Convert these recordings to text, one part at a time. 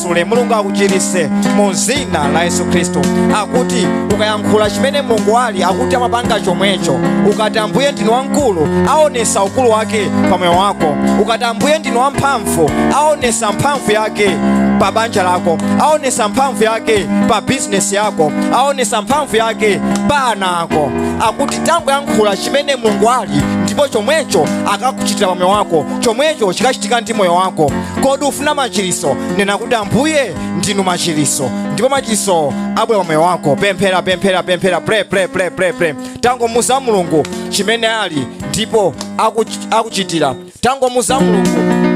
akumasule mulungu akuchirise mu zina la yesu khristu akuti ukayankhula chimene mulungu ali akuti amapanga chomwecho ukati ambuye ndinu wamkulu aonesa ukulu wake pa moyo wako ukati ambuye ndinu wamphamvu aonesa mphamvu yake pa banja lako aonesa mphamvu yake pa bizinesi yako aonesa mphamvu yake pa ana ako akuti tangoyankhula chimene mulungu ali ndipo chomwecho akakuchitira pa moyo wako chomwecho chikachitika ndi moyo wako kodi ufuna machiriso nena kuti ambuye ndinu machiriso ndipo machiriso abwera pa moyo wako pemphera pemphera pemphera pray pray pray pray pray tangomuuza mulungu chimene ali ndipo akuch- akuchitira tangomuuza mulungu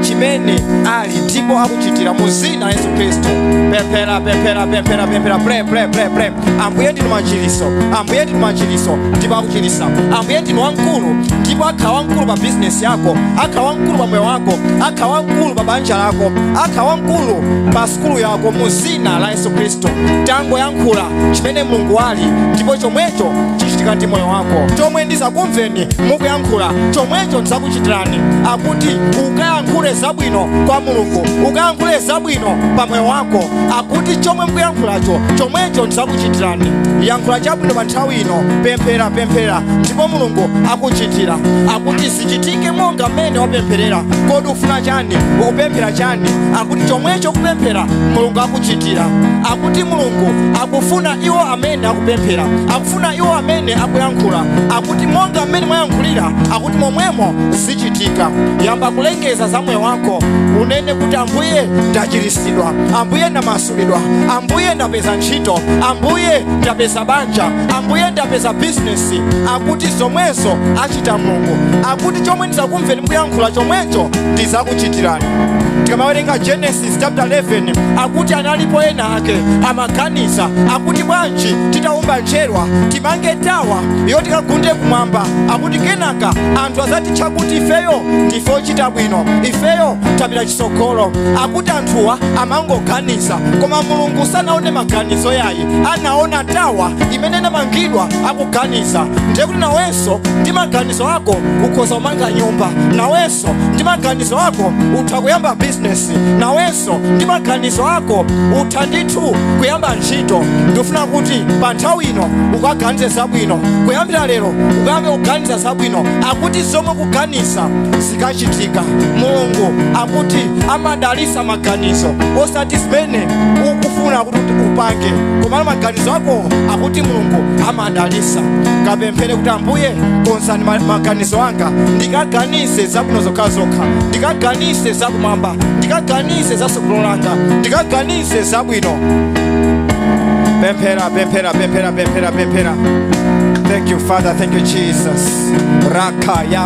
chimene ali ndipo akuchitira mu zina la yesu khristu pemphera pemphera pemphera pemphera pray pray pray pray ambuye ndinu machiliso ambuye ndinu machiliso ndipo akuchilisa ambuye ndinu wamkulu ndipo akhala wamkulu pa bizinesi yako akhala wamkulu pa moyo wako akhala wamkulu pa banja lako akhala wamkulu pa sukulu yako mu zina la yesu khristu tangoyankhula chimene mulungu ali ndipo chomwecho chichitika ndi moyo wako chomwe ndizakumveni mukuyankhula chomwecho ndizakuchitirani akuti ukayankhule zabwino kwa mulungu ukayankhule zabwino pa moyo wako akuti chomwe mukuyankhulacho chomwecho ndidzakuchitirani yankhula chabwino pa nthawi ino pemphera pemphera ndipo mulungu akuchitira akuti zichitike monga mmene wapempherera kodi ukufuna chani ukupemphera chani akuti chomwecho ukupemphera mulungu akuchitira akuti mulungu akufuna iwo amene akupemphera akufuna iwo amene akuyankhula akuti monga mmene mwayankhulira akuti momwemo zichitika yamba kulengeza za moyo wako unene kuti ambuye ndachiritsidwa ndachizidwa ambuye ndamasulidwa ambuye ndapeza ntchito ambuye ndapeza banja ambuye ndapeza bizinesi akuti zomwezo achita mulungu akuti chomwe ndizakumveni mukuyankhula chomwecho ndizakuchitirani tikamawerenga genesis chapter 11 akuti analipo enaake amaganiza akuti bwanji titaumba njerwa timange tawa iyo tikagunde kumwamba akuti kenaka anthu azatitcha kuti ifeyo ndife ochita bwino ifeyo tapita mtsogolo akuti anthuwa amangoganiza koma mulungu sanaone maganizo yayi anaona tawa imene inamangidwa akuganiza ndiye kuti nawenso ndi maganizo ako ukhoza kumanga nyumba nawenso ndi maganizo ako utha kuyamba bizinesi nawenso ndi maganizo ako utha ndithu kuyamba ntchito ndifuna kuti pa nthawi ino ukaganize zabwino kuyambira lero ukayambe kuganiza zabwino akuti zomwe ukuganiza zikachitika mulungu akuti amadalisa maganizo osati zimene ukufuna upange komano maganizo ako akuti mulungu amadalisa kapemphere kuti ambuye konzani ma- maganizo anga ndikaganize zabwino zokhazokha ndikaganize zakumwamba ndikaganize zatsogolo langa ndikaganize zabwino pemphera pemphera pemphera pemphera pemphera thank you father thank you jesus raka ya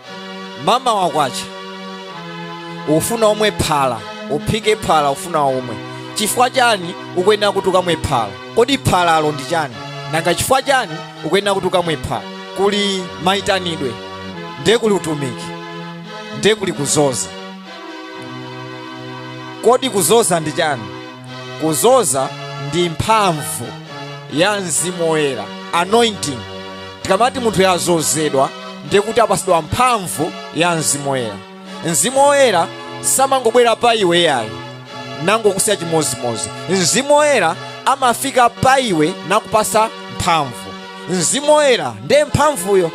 mamawa kwacha ukufuna umwe phala uphike phala ufuna umwe chifukwa chani ukuyenera kuti ukamwe phala kodi phalalo ndi chani nanga chifukwa chani ukuyenera kuti ukamwe phala kuli mayitanidwe ndiye kuli utumiki ndiye kuli kuzoza kodi kuzoza ndi chani kuzoza ndi mphamvu ya mzimu woyera anointing tikamati munthu wazozedwa ndiye kuti apasidwa mphamvu ya mzimu woyera mzimu woyera samangobwera pa iwe yayi nangokusiya chimozimozi mzimu woyera amafika pa iwe nakupasa mphamvu mzimu woyera ndiye mphamvuyo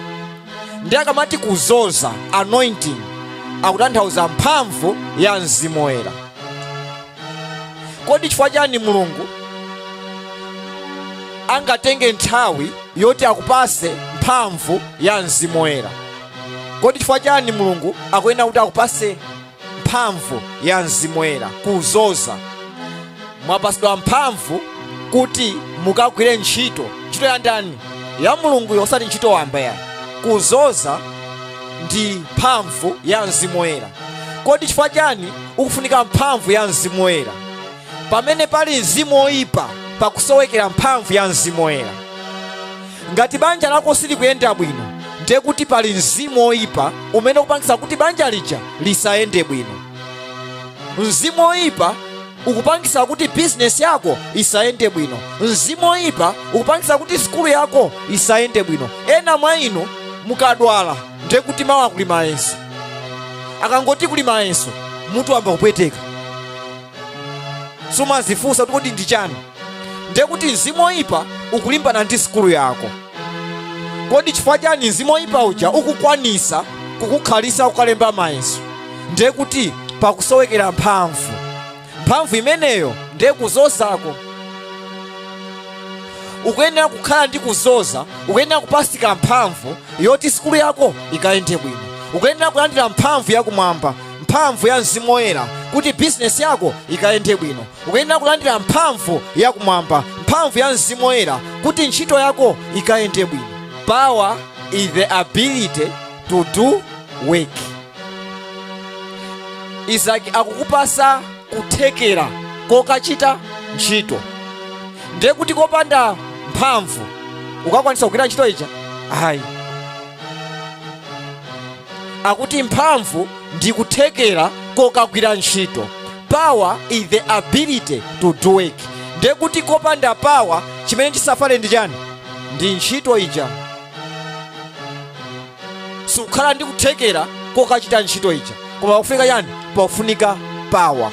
ndi akamati kuzoza anointing akutanthauza mphamvu ya mzimu woyera kodi chifukwa chani mulungu angatenge nthawi yoti akupase mphamvu ya mzimu woyera kodi chifukwa chani mulungu akuyenera kuti akupase mphamvu ya mzimu woyera kuzoza mwapasidwa mphamvu kuti mukagwire ntchito ntchito ya ndani ya mulungu yosati ntchito wamba yayi kuzoza ndi mphamvu ya mzimu woyera kodi chifukwa chani ukufunika mphamvu ya mzimu woyera pamene pali mzimu woyipa pakusowekera mphamvu ya mzimu woyera ngati banja lako silikuyenda bwino ndiye kuti pali mzimu woyipa umene ukupangitsa kuti banja lija lisayende bwino mzimu woyipa ukupangitsa kuti bizinesi yako isayende bwino mzimu woyipa ukupangitsa kuti sukulu yako isayende bwino ena mwa inu mukadwala ndiye kuti mawa kuli mayeso akangoti kuli mayeso mutu wayamba kupweteka sumazifunsa kuti kodi ndi chani ndiye kuti mzimu oyipa ukulimbana ndi sukulu yako kodi chifukwa chani mzimu oyipa uja ukukwanisa kukukhalisa kukalemba mayeso ndiye kuti pakusowekera mphamvu mphamvu imeneyo ndiye kuzozako ukuyenera kukhala ndi kuzoza ukuyenera kupatsidwa mphamvu yoti sukulu yako ikayende bwino ukuyenera kulandira mphamvu yakumwamba mphamvu ya mzimu woyera kuti bizinesi yako ikayende bwino ukuyenera kulandira mphamvu yakumwamba mphamvu ya mzimu woyera kuti ntchito yako ikayende bwino power is the ability to do work izaki akukupasa kuthekera kokachita ntchito ndiye kuti kopanda mphamvu ukakwanisa kugwira ntchito ija ayi akuti mphamvu ndi kuthekera kokagwira ntchito power is the ability to do work ndiye kuti kopanda power chimene chisafale ndi chani ndi ntchito ija siukhala ndi kuthekera kokachita ntchito ija koma pakufunika chani pakufunika pawa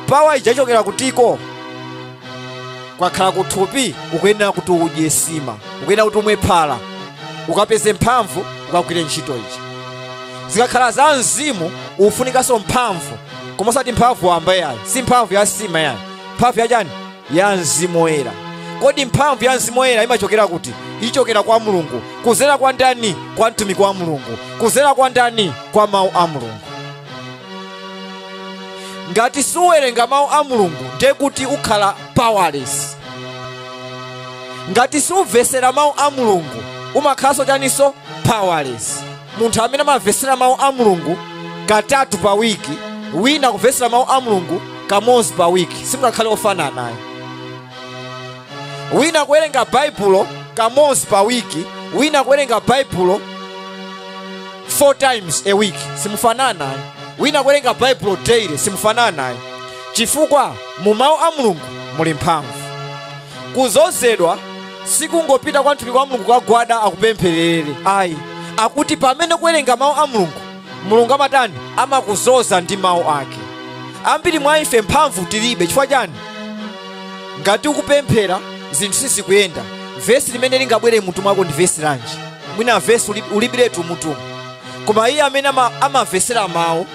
pawa ija ichokera kutiko kukakhala kuthupi ukuyenera kuti udye sima ukuyenera kuti umwe phala ukapeze mphamvu ukagwire ntchito ija zikakhala za mzimu ufunikanso mphamvu koma osati mphamvu wamba yayi si mphamvu ya sima yayi mphamvu ya chani ya mzimu woyera kodi mphamvu ya mzimu woyera imachokera kuti ichokera kwa mulungu kuzera kwa ndani kwa mtumiki wa mulungu kuzera kwa ndani kwa mawu a mulungu ngati suwerenga mawu a mulungu ndiye kuti ukhala powerless ngati sumvesera mawu a mulungu umakhalanso chaninso powerless munthu amene amamvesera mawu a mulungu katatu pa wiki wina kumvesera mawu a mulungu kamodzi pa wiki simungakhale ofanana ayi wina kuwerenga baibulo kamodzi pa wiki wina kuwerenga baibulo four times a week simufanana ayi wina kuwerenga baibulo daily simufanana ayi chifukwa mu mawu a mulungu muli mphamvu kuzozedwa sikungopita kwa mtumiki wa mulungu kukagwada akupempherere ayi akuti pamene ukuwerenga mawu a mulungu mulungu amatani amakuzoza ndi mawu ake ambiri mwa ife mphamvu tilibe chifukwa chani ngati ukupemphera zinthu sizikuyenda vesi limene lingabwere mutu mwako ndi vesi lanji mwina vesi uli- ulibiretu mutumu koma iye amene ama- amamvesera mawu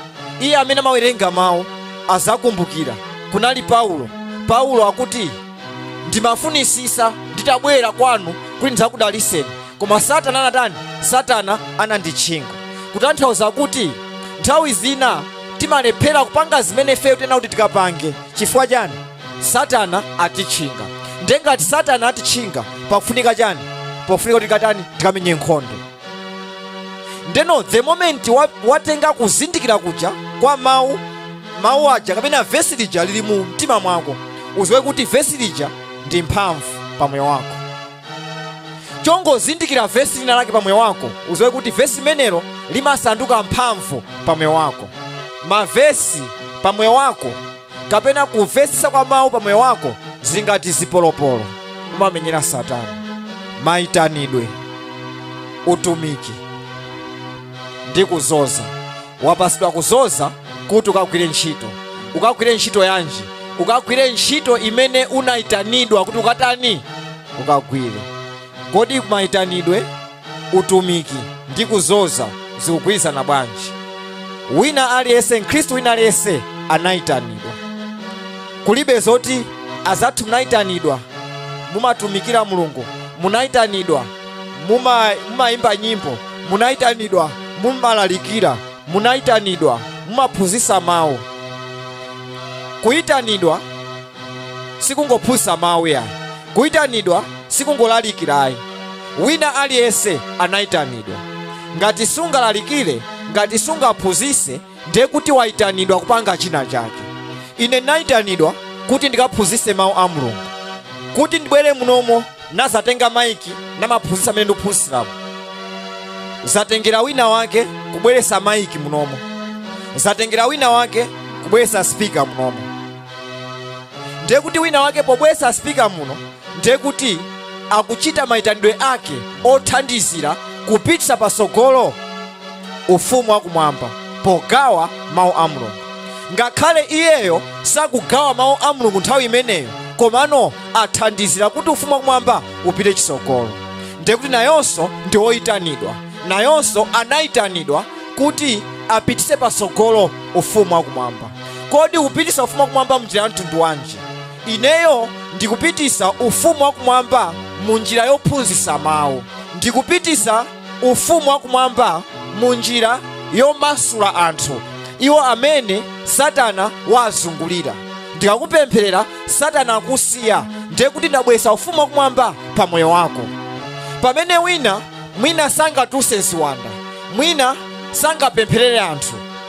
iye amene amawerenga mawu azakumbukira kunali paulo paulo akuti ndimafunisisa nditabwera kwanu kuti ndidzakudaliseni koma satana anatani satana ananditchinga kutanthauza kuti nthawi zina timalephera kupanga zimene ifeyo tinati kuti tikapange chifukwa chani satana atitchinga ndengati satana atitchinga pakufunika chani pakufunika kuti tikatani tikamenye nkhondo ndeno the moment wa- watenga kuzindikira kuja kwa mawu mawu aja kapena vesi lija lili mu mtima mwako uziwe kuti vesi lija ndi mphamvu pa moyo wako chongozindikira vesi lina lake pa moyo wako uziwe kuti vesi limenelo limasanduka mphamvu pa moyo wako mavesi pa moyo wako kapena kumvetsetsa kwa mawu pa moyo wako zingati zipolopolo kumamenyera satana maitanidwe utumiki ndi kuzoza wapasidwa kuzoza kuti ukagwire ntchito ukagwire ntchito yanji ukagwire ntchito imene unayitanidwa kuti ukatani ukagwire kodi maitanidwe utumiki ndi kuzoza zikugwirizana bwanji wina aliyense mkhristu wina aliyense anayitanidwa kulibe zoti azathu munayitanidwa mumatumikira mulungu munayitanidwa muma- mumayimba nyimbo munayitanidwa mumalalikira munayitanidwa mumaphunzitsa mawu kuyitanidwa sikungophunzitsa mawu ayi kuyitanidwa sikungolalikira ayi wina aliyense anayitanidwa ngati sungalalikire ngati sungaphunzitse ndiye kuti wayitanidwa kupanga china chake ine ndinayitanidwa kuti ndikaphunzitse mawu a mulungu kuti ndibwere munomo nazatenga maiki namaphunzitsa mmene ndikuphunzitsiramo zatengera wina wake kubweretsa maiki munomo zatengera wina wake kubweretsa spika munomo ndiye kuti wina wake pobweretsa spika muno ndiye kuti akuchita mayitanidwe ake othandizira kupititsa patsogolo ufumu wakumwamba pogawa mawu a mulungu ngakhale iyeyo sakugawa mawu a mulungu nthawi imeneyo komano athandizira kuti ufumu wakumwamba upite chitsogolo ndiye kuti nayonso ndi oyitanidwa nayonso anayitanidwa kuti apititse patsogolo ufumu wakumwamba kodi ukupitisa ufumu wakumwamba mnjira ya mtundu wanji ineyo ndikupitisa ufumu wakumwamba mu njira yophunzitsa mawu ndikupitisa ufumu wakumwamba mu njira yomasula anthu iwo amene satana wawazungulira ndikakupempherera satana akusiya ndiye kuti ndabweretsa ufumu wakumwamba pa moyo wako pamene wina mwina sangatulutse ziwanda mwina sangapempherere anthu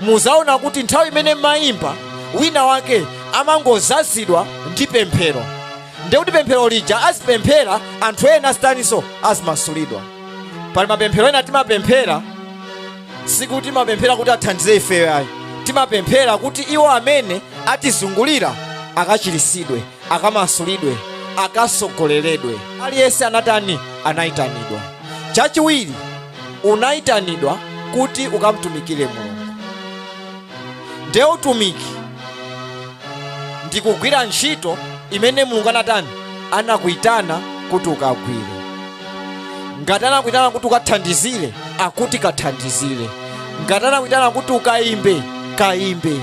muzaona kuti nthawi imene umayimba wina wake amangozazidwa ndi pemphero ndekuti pemphero lija azipemphera anthu ena azitaninso azimasulidwa pali mapemphero ena timapemphera sikuti timapemphera kuti athandize ifeyo ayi timapemphera kuti iwo amene atizungulira akachirisidwe akamasulidwe akasogoleledwe aliyense anatani anayitanidwa chachiwiri unayitanidwa kuti ukamtumikire mulungu nde utumiki ndi kugwira ntchito imene mulungu anatani anakuyitana kuti ukagwire ngati anakuyitana kuti ukathandizire akuti kathandizire ngati anakuyitana kuti ukayimbe kayimbe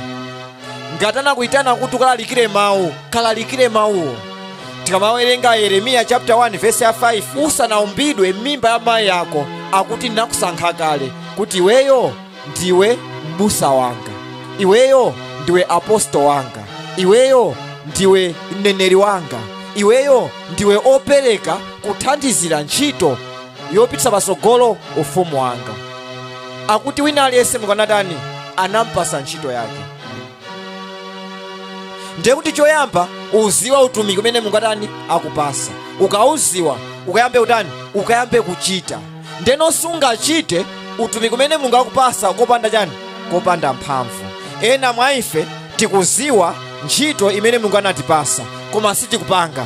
ngati anakuitana kuti ukalalikire mawu kalalikire mawuwo tikamawerenga yeremiya chapter 1 verse ya 5 usanaumbidwe m'mimba ya mayi yako akuti ndinakusankha kale kuti iweyo ndiwe m'busa wanga iweyo ndiwe aposto wanga iweyo ndiwe mneneri wanga iweyo ndiwe opereka kuthandizira ntchito yopititsa patsogolo ufumu wanga akuti wina aliyense mulungu anatani anampasa ntchito yake ndiye kuti choyamba uziwa utumiki umene mulungu watani wakupasa ukauziwa ukayambe kutani ukayambe kuchita ndeno sungachite utumiki umene mulungu wakupasa kopanda chani kopanda mphamvu ena mwa ife tikuziwa ntchito imene mulungu anatipasa koma sitikupanga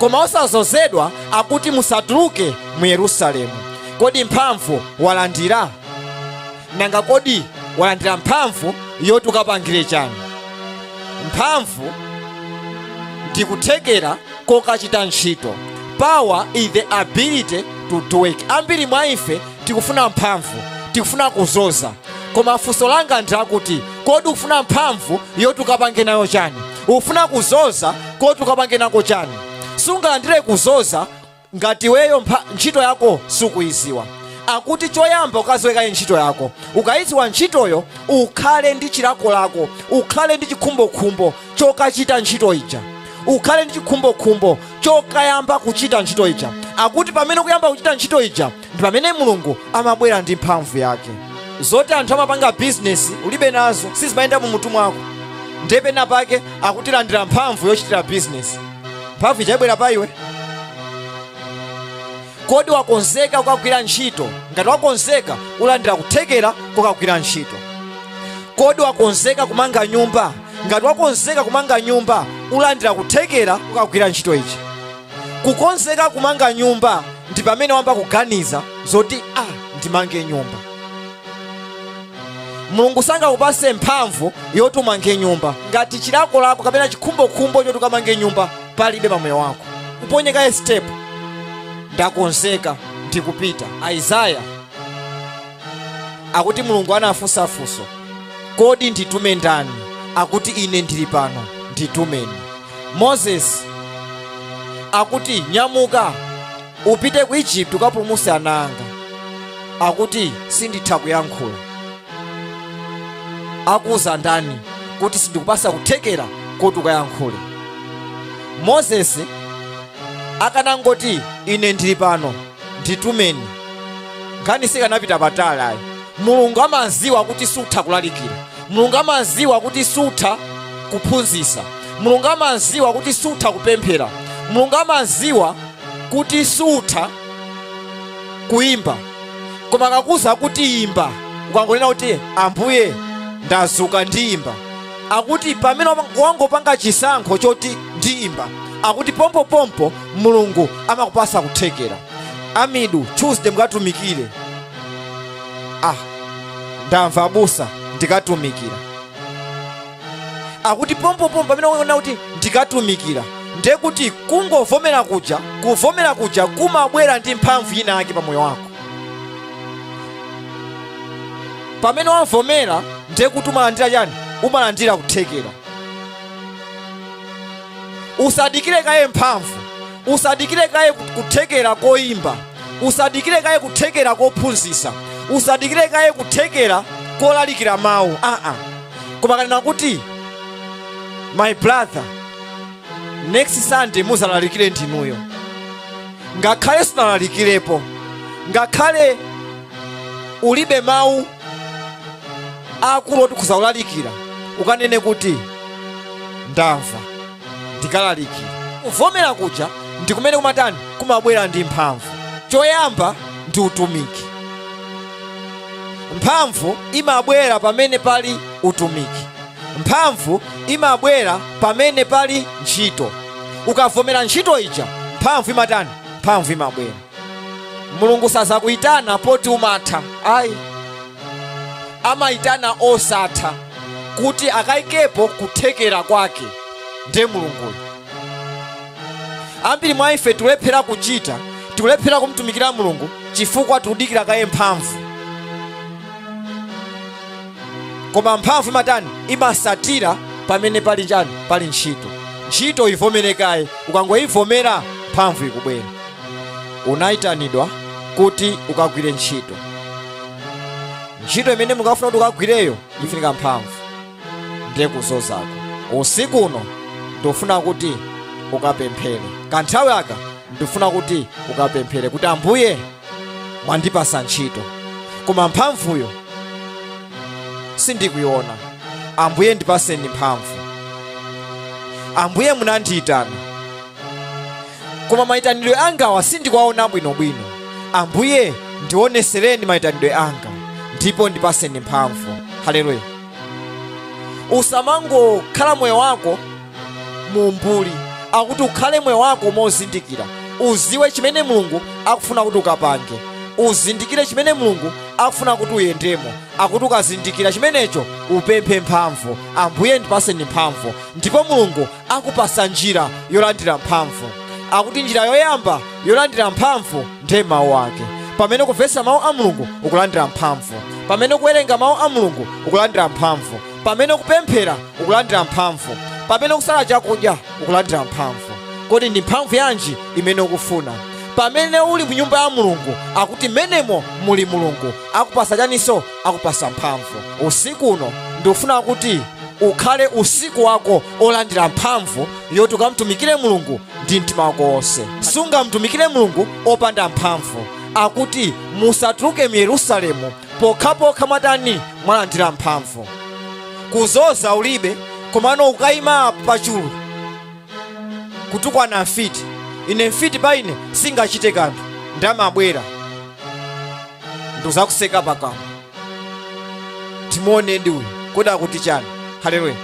koma usanazozedwe akuti musatuluke mu yerusalemu kodi mphamvu walandira nanga kodi walandira mphamvu yoti ukapangire chani mphamvu ndi kuthekera kokachita ntchito power is the ability to do work ambiri mwa ife tikufuna mphamvu tikufuna kuzoza koma funso langa ndi lakuti kodi ukufuna mphamvu yoti ukapange nayo chani ufuna kuzoza koti ukapange nako chani sungalandire kuzoza ngati iweyo ntchito yako sukuyiziwa akuti choyamba ukaziwekaye ntchito yako ukayiziwa ntchitoyo ukhale ndi chilakolako ukhale ndi chikhumbokhumbo chokachita ntchito ija ukhale ndi chikhumbokhumbo chokayamba kuchita ntchito ija akuti pamene ukuyamba kuchita ntchito ija ndi pamene mulungu amabwera ndi mphamvu yake zoti anthu amapanga bizinesi ulibe nazo sizimayenda mu mutu mwako ndiye pena pake akuti landira mphamvu yochitira bizinesi mphamvu ija ibwera pa iwe kodi wakonzeka kukagwira ntchito ngati wakonzeka ulandira kuthekera kokagwira ntchito kodi wakonzeka kumanga nyumba ngati wakonzeka kumanga nyumba ulandira kuthekera kokagwira ntchito ija kukonzeka kumanga nyumba ndi pamene wayamba kuganiza zoti ah, ndimange nyumba mulungu sangakupase mphamvu yoti umange nyumba ngati chilakolako kapena chikhumbokhumbo choti ukamange nyumba palibe pa moyo wako uponye kaye step ndakonzeka ndikupita aizaya akuti mulungu anafunsa funso kodi nditume ndani akuti ine ndili pano nditumeni moses akuti nyamuka upite ku egypt ukapulumuse ana anga akuti sinditha kuyankhula akuwuza ndani kuti sindikupasa kuthekera koti ukayankhule moses akanangoti ine ndili pano nditumeni nkhani sikanapita patali ayi mulungu amaziwa kuti sutha kulalikira mulungu amaziwa kuti sutha kuphunzisa mulungu amaziwa kuti sutha kupemphera mulungu amaziwa kuti sutha kuimba koma akakuuza kuti imba ukangonena kuti ambuye ndazuka ndiimba akuti pamene wangopanga chisankho choti ndiimba akuti pompopompo mulungu amakupasa kuthekera a midweek tuesday mukatumikire ah ndamva abusa ndikatumikira akuti pompopompo pamene wanena kuti ndikatumikira ndiye kuti kungovomera kuja kuvomera kuja kumabwera ndi mphamvu ina yake pa moyo wako pamene wavomera ndiye kuti umalandira chani umalandira kuthekera usadikire kaye mphamvu usadikire kaye kut- kuthekera koyimba usadikire kaye kuthekera kophunzisa usadikire kaye kuthekera kolalikira mawu aa koma akanena kuti my brother next sunday muzalalikire ndinuyo ngakhale sunalalikirepo ngakhale ulibe mawu akulu oti ukawalalikire ukanene kuti ndamva ndikalalikira kuvomera kuja ndi kumene kumatani kumabwera ndi mphamvu choyamba ndi utumiki mphamvu imabwera pamene pali utumiki mphamvu imabwera pamene pali ntchito ukavomera ntchito ija mphamvu imatani mphamvu imabwera mulungu sazakuyitana poti umatha ayi amayitana osatha kuti akayikepo kuthekera kwake ndiye mulunguyo ambiri mwa ife tikulephera kuchita tikulephera kumtumikira mulungu chifukwa tikudikira kaye mphamvu koma mphamvu imatani imasatira pamene pali chani pali ntchito ntchito ivomere kaye ukangoyivomera mphamvu ikubwera unayitanidwa kuti ukagwire ntchito ntchito imene mulungu akufuna kuti ukagwireyo ifunika mphamvu ndiye kuzozako usiku uno ndifuna kuti ukapemphere kanthawi aka ndifuna kuti ukapemphere kuti ambuye mwandipasa ntchito koma mphamvuyo sindikuyiona ambuye ndipaseni mphamvu ambuye munandiyitana koma maitanidwe angawa sindikuwaona bwinobwino ambuye ndionesereni maitanidwe anga ndipo ndipaseni mphamvu haleluya usamangokhala moyo wako mu umbuli akuti ukhale moyo wako mozindikira uziwe chimene mulungu akufuna kuti ukapange uzindikire chimene mulungu akufuna kuti uyendemo akuti ukazindikira chimenecho upemphe mphamvu ambuye ndipaseni mphamvu ndipo mulungu akupasa njira yolandira mphamvu akuti njira yoyamba yolandira mphamvu ndiye mawu ake pamene ukumvesa mawu a mulungu ukulandira mphamvu pamene ukuwerenga mawu a mulungu ukulandira mphamvu pamene ukupemphera ukulandira mphamvu pamene ukusala chakudya ukulandira mphamvu kodi ndi mphamvu yanji imene ukufuna pamene uli mu nyumba ya mulungu akuti mmenemo muli mulungu akupasa chaninso akupasa mphamvu usiku uno ndikufuna kuti ukhale usiku wako olandira mphamvu yoti ukamtumikire mulungu ndi mtima wako wonse sungamtumikire mulungu opanda mphamvu akuti musatuluke mu yerusalemu pokhapokha mwatani mwalandira mphamvu kuzoza ulibe komano ukayima apo pachulu kutukwana mfiti ine mfiti pa ine singachite kanthu nde amabwera ndikuzakuseka pakamwa timuone ndi uyu kodi akuti chani haleluya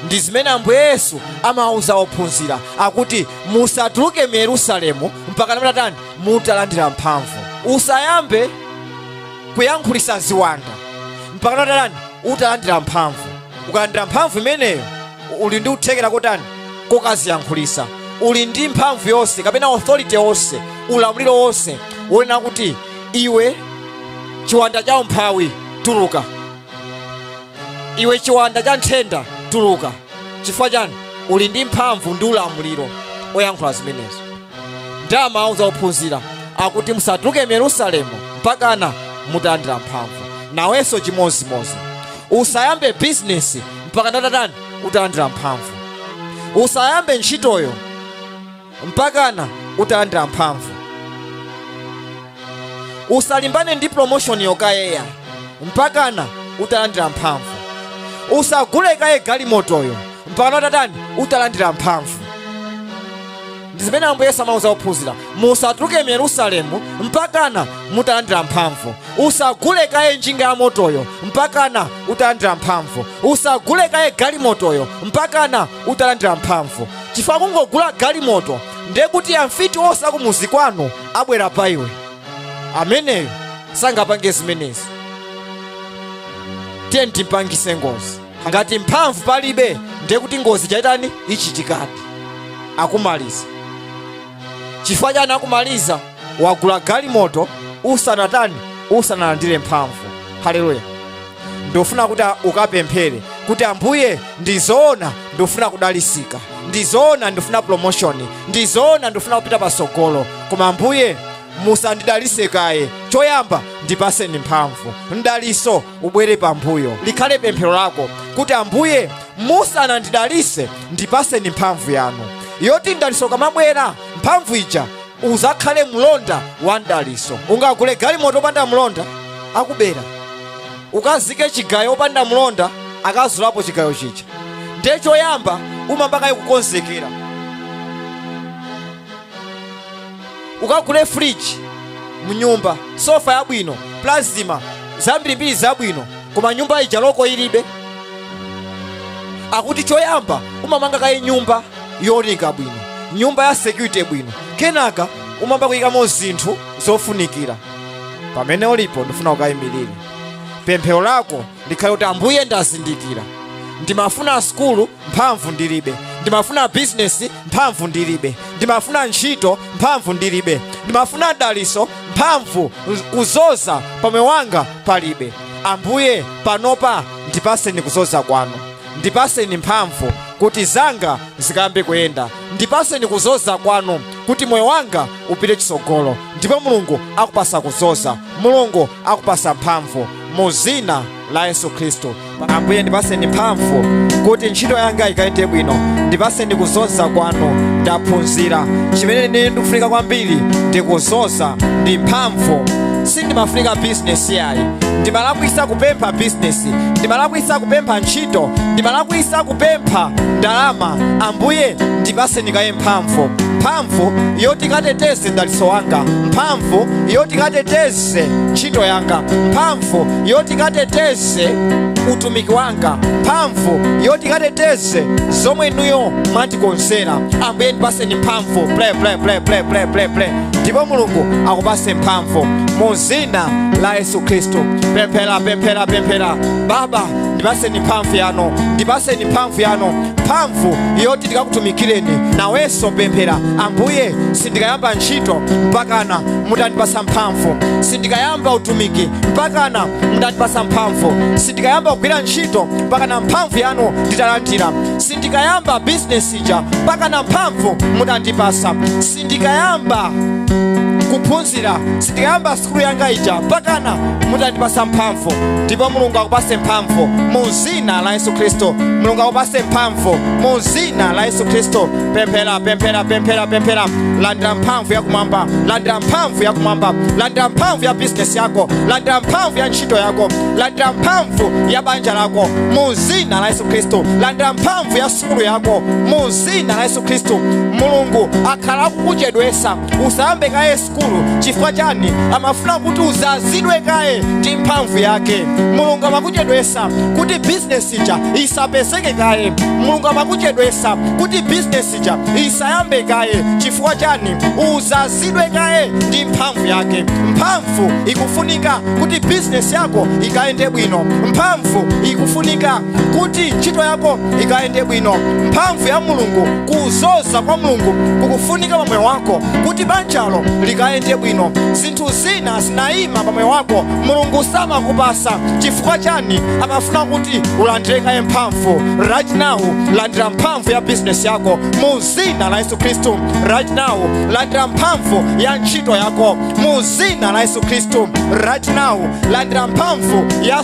ndi zimene ambuye yesu amawauza ophunzira akuti musatuluke mu yerusalemu mpakana mutatani mutalandira mphamvu usayambe kuyankhulisa ziwanda mpakana utatani utalandira mphamvu ukalandira mphamvu imeneyo u- uli ndi kuthekera kotatani kokaziyankhulisa uli ndi mphamvu yonse kapena authority yonse ulamuliro wonse wonena kuti iwe chiwanda cha umphawi tuluka iwe chiwanda cha nthenda tuluka chifukwa chani uli ndi mphamvu ndi ulamuliro oyankhula zimenezo nde amauza ophunzira akuti musatuluke mu yerusalemu mpakana mutalandira mphamvu nawenso chimodzimodzi usayambe bizinesi mpakana utatani utalandira mphamvu usayambe ntchitoyo mpakana utalandira mphamvu usalimbane ndi promotionyo kaye mpakana utalandira mphamvu usagule kaye galimotoyo mpakana utatani utalandira mphamvu ndi zimene ambuye yesu amauza ophunzira musatuluke mu yerusalemu mpakana mutalandira mphamvu usagule kaye njinga ya motoyo mpakana utalandira mphamvu usagule kaye galimotoyo mpakana utalandira mphamvu chifukwa kungogula galimoto ndiye kuti amfiti onse a kumuzi kwanu abwera pa iwe ameneyo sangapange zimenezo tiye timpangise ngozi ngati mphamvu palibe ndiye kuti ngozi chiyitani ichitikadi akumaliza chifukwa chani akumaliza wagula galimoto usanatani usanalandire mphamvu haleluya ndofuna kuti a- ukapemphere kuti ambuye ndizoona ndifuna kudalisika ndizoona ndifuna promotion ndizoona ndifuna kupita pasogolo koma ambuye musandidalise kaye choyamba ndipaseni mphamvu mdaliso ubwere pambuyo likhale pemphero lako kuti ambuye musanandidalise ndipaseni mphamvu yanu yoti mdaliso ukamabwera mphamvu ija izakhale mlonda wa mdaliso ungagule galimoto opanda mlonda akubera ukazike chigayo opanda mlonda akazulapo chigayo chija ndiye choyamba umamba kaye kukonzekera ukagule friji mnyumba sofa yabwino plasma zambirimbiri zabwino koma nyumba ija loko ilibe akuti choyamba umamanga kaye nyumba yooneka bwino nyumba ya security bwino kenaka umamba kuyikamo zinthu zofunikira pamene ulipo ndifuna ukayimirire pemphero lako likhale kuti ambuye ndazindikira ndimafuna sukulu mphamvu ndilibe ndimafuna bizinesi mphamvu ndilibe ndimafuna ntchito mphamvu ndilibe ndimafuna daliso mphamvu kuzoza pamoyo wanga palibe ambuye panopa ndipaseni kuzoza kwanu ndipaseni mphamvu kuti zanga zikayambe kuyenda ndipaseni kuzoza kwanu kuti moyo wanga upite chitsogolo ndipo mulungu akupasa kuzoza mulungu akupasa mphamvu mu zina la yesu khristu ambuye ndipaseni mphamvu kuti ntchito yanga ikayende bwino ndipaseni kuzoza kwanu ndaphunzira chimene ine ndikufunika kwambiri ndi kuzoza ndi mphamvu sindimafunika bizinesi yayi ndimalakwisa kupempha bizinesi ndimalakwisa kupempha ntchito ndimalakwisa kupempha ndalama ambuye ndipaseni kaye mphamvu mphamvu yoti ikateteze dalitso wanga mphamvu yoti ikateteze ntchito yanga mphamvu yoti ikateteze utumiki wanga mphamvu yoti ikateteze zomwe inuyo mwandikonzera ambuye ndipaseni mphamvu pray pray pray pray pray pray pray ndipo mulungu akupase mphamvu mu dzina la yesu khristu pemphera pemphera pemphera baba ndipaseni mphamvu yanu ndipaseni mphamvu yanu mphamvu yoti ndikakutumikireni nayo pemphera ambuye sindikayamba ntchito mpakana mutandipasa mphamvu sindikayamba utumiki mpakana mutandipasa mphamvu sindikayamba kugwira ntchito mpakana mphamvu yanu nditalandira sindikayamba business zija mpakana mphamvu mudandipasa sindikayamba kuphunzira sindikayamba sukulu yanga ija mpakana mudandipasa mphamvu ndipo mulungu akupase mphamvu mu zina la yesu khristu mulungu akupase mphamvu mu zina la yesu khristu pemphera pemphera pemphera pemphera landira mphamvu yakumwamba landira mphamvu yakumwamba landira mphamvu ya bizinesi yako landira mphamvu ya ntchito yako landira mphamvu ya banja lako mu zina la yesu khristu landira mphamvu ya sukulu yako mu zina la yesu khristu mulungu akhala akukuchedwesa usayambe kaye sukulu chifukwa chani amafuna kuti uzazidwe kaye ndi mphamvu yake mulungu amakuchedwesa kuti bizinesi ija isapezeke kaye mulungu amakuchedwesa kuti bizinesi ija isayambe kaye chifukwa chani uzazidwe kaye ndi mphamvu yake mphamvu ikufunika kuti bizinesi yako ikayende bwino mphamvu ikufunika kuti ntchito yako ikayende bwino mphamvu ya mulungu kuzoza kwa mulungu kukufunika pamoyo wako kuti banjalo likayende bwino zinthu zina zinayima pamoyo wako mulungu samakupasa chifukwa chani amafuna kuti ulandire kaye mphamvu right now landira mphamvu ya bizinesi yako mu zina la yesu khristu right now landira mphamvu ya ntchito yako mu zina la yesu khristu right now landira mphamvu ya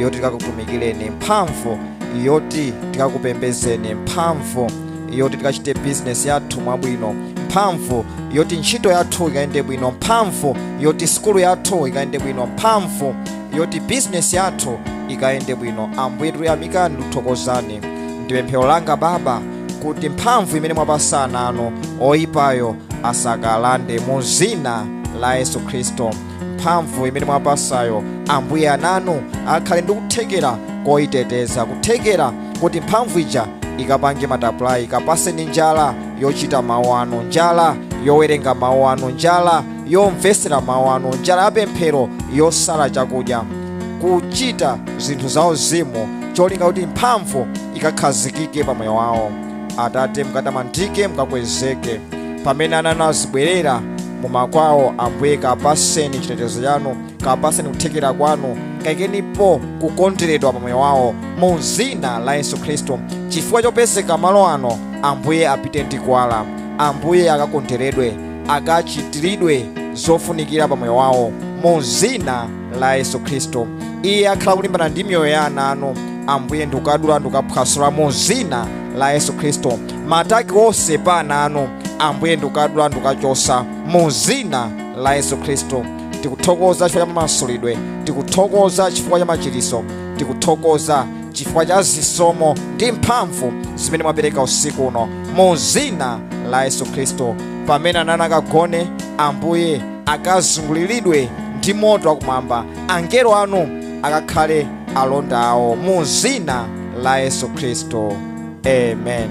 yoti tikakutumikireni mphamvu yoti tikakupembezeni mphamvu yoti tikachite bizinesi yathu mwabwino mphamvu yoti ntchito yathu ikayende bwino mphamvu yoti sikulu yathu ikayende bwino mphamvu yoti bizinesi yathu ikayende bwino ambuye tikuyamikani tikuthokozani ndi pemphero langa baba kuti mphamvu imene mwapasa ana anu oyipayo asakalande mu zina la yesu khristu mphamvu imene mwapasayo ambuye ananu akhale ndi kuthekera koyiteteza kuthekera kuti mphamvu ija ikapange multiply kapaseni njala yochita mawu anu njala yowerenga mawu anu njala yomvesera mawu anu njala yapemphero yosala chakudya kuchita zinthu zauzimu cholinga kuti mphamvu ikakhazikike pa moyo wawo atate mukatamandike mukakwezeke pamene ananu azibwerera mumakwawo ambuye kapaseni chitetezo chanu kapaseni kuthekera kwanu kaikenipo kukonderedwa pa moyo wawo mu zina la yesu khristu chifukwa chopezeka malo ano ambuye apite ndi kuwala ambuye akakonderedwe akachitiridwe zofunikira pa moyo wawo mu zina la yesu khristu iye wakhala kulimbana ndi miyoyo ya ana anu ambuye ndikukadula ndikukaphwasula mu zina la yesu khristu ma attack onse pa ana anu ambuye ndikukadula ndikukachosa mu zina la yesu khristu tikuthokoza chifukwa cha mamasulidwe tikuthokoza chifukwa cha machiriso tikuthokoza chifukwa cha zisomo ndi mphamvu zimene mwapereka usiku uno mu zina la yesu khristu pamene ana anu akagone ambuye akazunguliridwe ndi moto wakumwamba angelo anu akakhale alonda awo mu zina la yesu khristu amen